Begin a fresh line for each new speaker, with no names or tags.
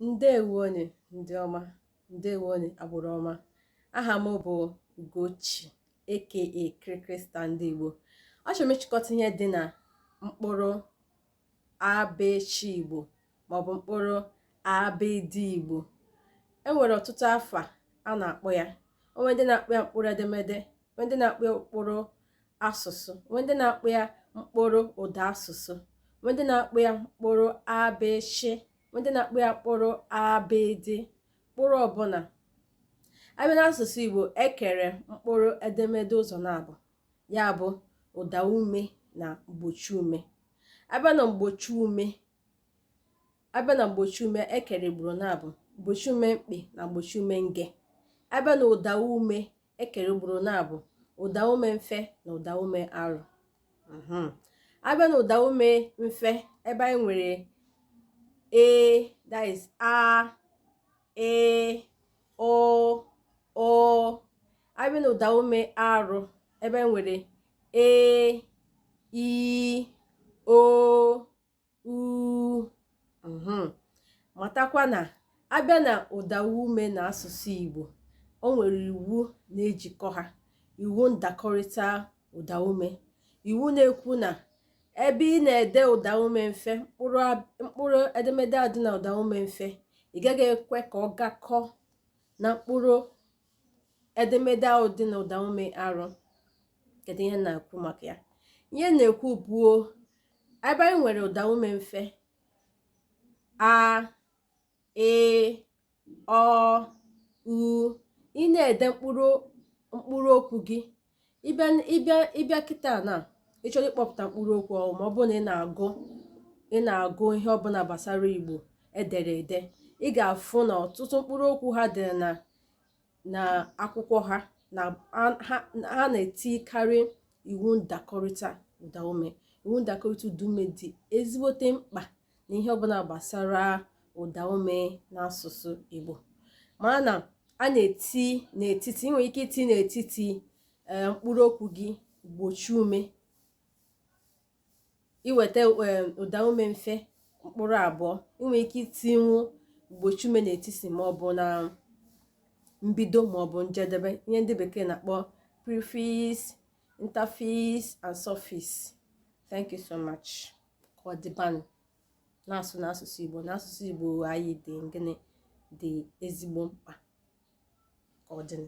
ǹdeèwonù ndị ọma ǹdeèwonù àgbụ̀rụ̀ ọma ahà m bụ̀ Ugochi aka Krịkrịstà ndị Ìgbò achọ̀rọ̀ m ịchịkọta ihe dị nà mkpụrụ abịchị Ìgbò màọ̀bụ̀ mkpụrụ abịdị Ìgbò e nwèrè ọ̀tụtụ afà a nà-àkpọ ya o nwere ndị na-akpọ ya mkpụrụ edemede nwee ndị na-akpọ ya mkpụrụ asụsụ nwee ndị na-akpọ ya mkpụrụ ụda asụsụ nwee ndị na-akpọ ya mkpụrụ abịchị nwee ndị na-akpọ ya mkpụrụ abịdị mkpụrụ ọbụla a bịa n'asụsụ Igbo e kere mkpụrụ edemede ụzọ naabọ ya bụ ụda ume na mgbochi ume a bịa na mgbochi ume a bịa na mgbochi ume e kere ugboro naabọ mgbochi ume mkpị na mgbochi ume nge a bịa na ụda ume e kere ugboro naabọ ụdaume mfe na ụdaume arụ mhm. a bịa na ụdaume mfe ebe anyị nwere a that is a ị ọ ụ a bịa na ụdaume arụ ebe anyị nwere e i o u mhm. matakwa na a bịa na ụda ume na asụsụ Igbo o nwere iwu na-ejikọ ha iwu ndakọrịta ụda ume iwu na-ekwu na ebe ị na-ede ụda ume mfe mkpụrụ edemede a dị na ụda ume mfe ị gaghị ekwe ka ọ gakọ na mkpụrụ edemede ahụ dị na ụdaume arụ kedu ihe na-ekwu maka ya ihe na-ekwu bụ o ebe anyị nwere ụdaume mfe a ị ọ ụ ị na-ede mkpụrụ mkpụrụ okwu gị ị bịa ị bịa ị bịa kịta na ị chọrọ ịkpọpụta mkpụrụ okwu ọhụụ ma ọ bụrụ na ị na-agụ ị na-agụ ihe ọbụla gbasara Igbo e dere ede ị ga-afụ na ọtụtụ mkpụrụ okwu ha dere na na akwụkwọ ha na ha na-etikarị iwu ndakọrịta ụdaume iwu ndakọrịta ụdaume dị ezigbote mkpa na ihe ọbụla gbasara ụda ume n'asụsụ Igbo mara na a na-eti n'etiti ị nwere ike iti n'etiti eh, mkpụrụ okwu gị mgbochi ume i weta eh, ụda ume mfe mkpụrụ abụọ ị nwere ike itinwu mgbochi ume n'etiti ma ọ bụ na mbido ma ọ bụ njedebe ihe ndị bekee na-akpọ prefix interfix and suffix thank you so much ka ọ dịbanụ na-asụ n'asụsụ Igbo n'asụsụ Igbo anyị dị gịnị dị ezigbo mkpa ka ọ dịnụ